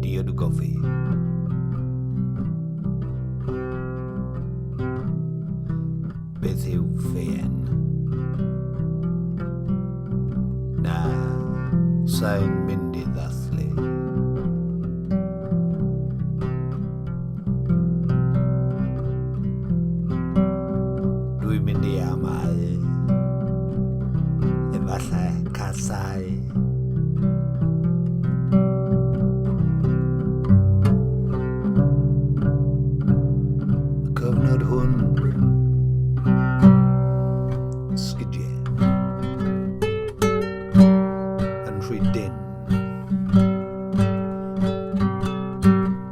Diod Gofi. Beth yw ffeien? Na, sa'n mynd i ddathlu. Dwi'n mynd i amau Efallai casau Cyfnod hwn Sgidiau Yn rhy dyn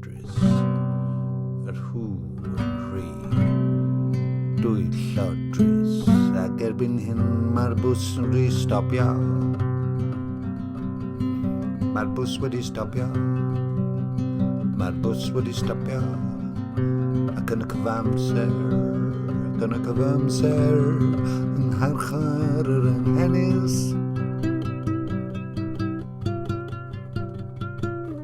Drys yr hw yn rhy dwyllod drys ac erbyn hyn mae'r bws yn rhy stopio. Mae'r bws wedi stopio. Mae'r bws wedi stopio. Ac yn y cyfamser, ac yn y cyfamser, yng ngharchar yr anghenus,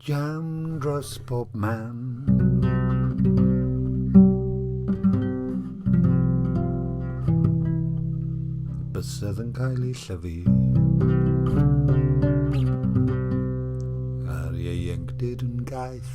Jam dros bob man. bysedd yn cael ei llyfu. A'r ieuenctid yn gaeth.